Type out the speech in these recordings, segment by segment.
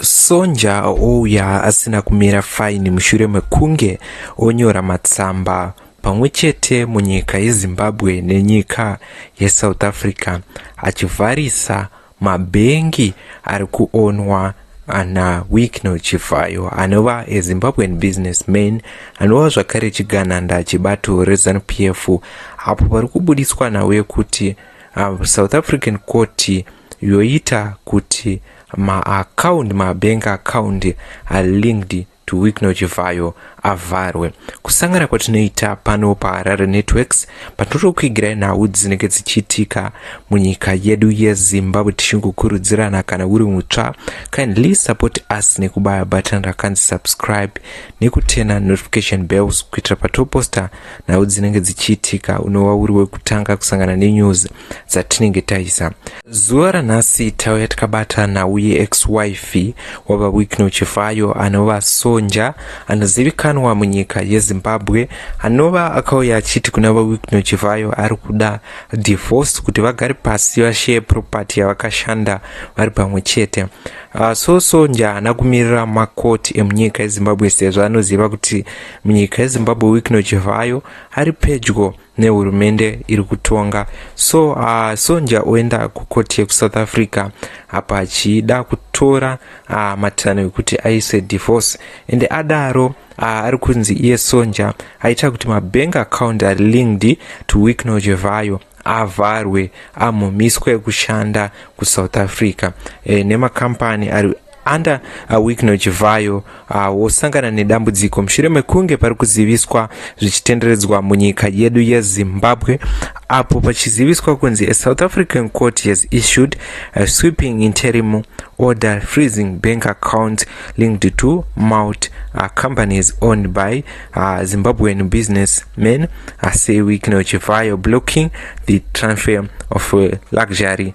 Sonja ouya asina kumira faini mushure mekunge onyora matsamba pamwe chete munyika yezimbabwe nenyika yesouth africa achivharisa mabhengi ari kuonwa ana wickno chivhayo anova ezimbabwean business man anova zvakare chigananda chebato rezanup f apo pari kubuditswa nhau yekuti uh, south african court yoita kuti maakaundi mabank akaundi are linked to Wicknell Chivhayo avharwe. Kusangana kwatinoita pano paHarare Networks patinotokuigirai nhau dzinenge dzichiitika munyika yedu yeZimbabwe tichingokurudzirana kana uri mutsva kindly support us nekubaya button rakanzi subscribe nekutena notification bells kuitira patoposta nhau dzinenge dzichiitika unova uri wekutanga kusangana nenews dzatinenge taisa zuva ranhasi tauya tikabata nhau yeex wife wava wikno chivayo anova sonja anozivikanwa munyika yezimbabwe anova akauya achiti kuna vawikno chivayo ari kuda divorce kuti vagare pasi vasheye property yavakashanda vari pamwe chete uh, so sonja haana kumirira makoti emunyika yezimbabwe sezvo anoziva kuti munyika yezimbabwe wikno chivhayo ari pedyo nehurumende iri kutonga so uh, sonja oenda kukoti yekusouth africa apa achida kutora uh, matanho ekuti aise divorce ende adaro uh, ari kunzi iye sonja aita kuti mabank account ari linked to wikno chivhayo avharwe amumiswe kushanda kusouth africa e, nemakambani ari under a week nochivhayo ah, wosangana nedambudziko mushure mekunge pari kuziviswa zvichitenderedzwa munyika yedu yezimbabwe apo pachiziviswa kunzi a south african court has issued a sweeping interim order freezing bank account linked to malt uh, ah, companies owned by uh, zimbabwean business men uh, say week nochivhayo blocking the transfer of uh, luxury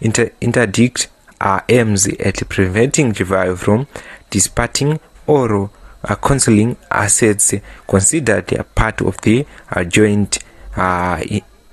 Inter interdict are aims at preventing chivayo from disparting or uh, concealing assets considered a part of the uh, joint uh,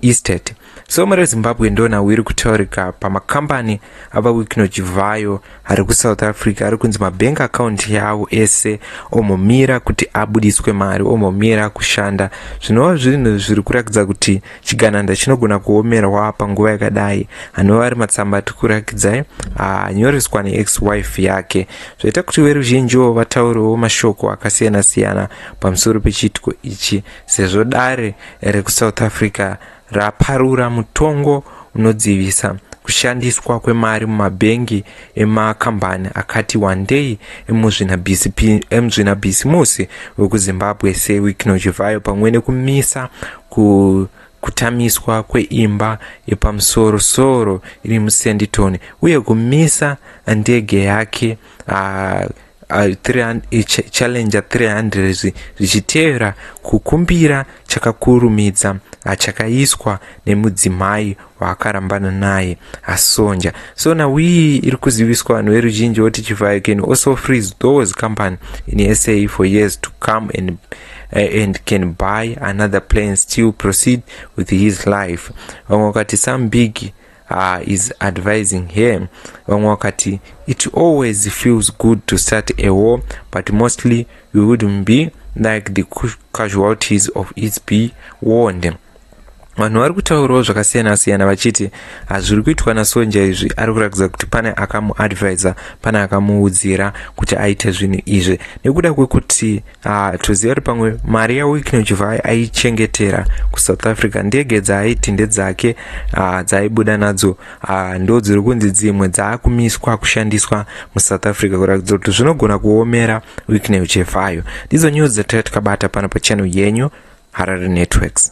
estate so mari yezimbabwe ndona wiri kutaurika pamakambani ava wikino chivayo ari kusouth africa ari kunzi mabank account yavo ese omomira kuti abudiswe mari omomira kushanda zvinova zvinhu zviri kurakidza kuti chigananda chinogona kuomerwa panguva yakadai anova ari matsamba ati kurakidzai anyoreswa neex wife yake zvaita kuti veruzhinjiwo vataurewo mashoko akasiyana-siyana pamusoro pechiitiko ichi sezvo dare rekusouth africa raparura mutongo unodzivisa kushandiswa kwemari mumabhengi emakambani akati wandei emuzvinabhisimusi wekuzimbabwe sewiknochivayo pamwe nekumisa ku kutamiswa kweimba yepamusorosoro iri musenditon uye kumisa ndege yake uh, challenger 300 zvichitevera kukumbira chakakurumidza achakaiswa nemudzimai waakarambana naye asonja so now iyi iri kuziviswa vanhu veruzhinji voti chivhayo can also freeze those company in sa for years to come and, uh, and can buy another plan still proceed with his life vamwe vakati some big uh, is advising her vamwe wakati it always feels good to start a war but mostly we wouldn't be like the casualties of its be warned vanhu vari kutaurawo zvakasiyana siyana vachiti hazviri kuitwa nasonja izvi ari kuratidza kuti pane akamuadvisa pane akamuudzira kuti aite zvinhu izvi nekuda kwekuti Ah, toziva kuti pamwe mari yawickno chivai aichengetera kusouth africa ndege dzaaiti ndedzake ah, dzaaibuda nadzo ah, ndo dziri kunzi dzimwe dzaakumiswa kushandiswa musouth africa kuratidza kuti zvinogona kuomera wickno chevayo ndidzo news dzataitikabata pano pachannel yenyu harare networks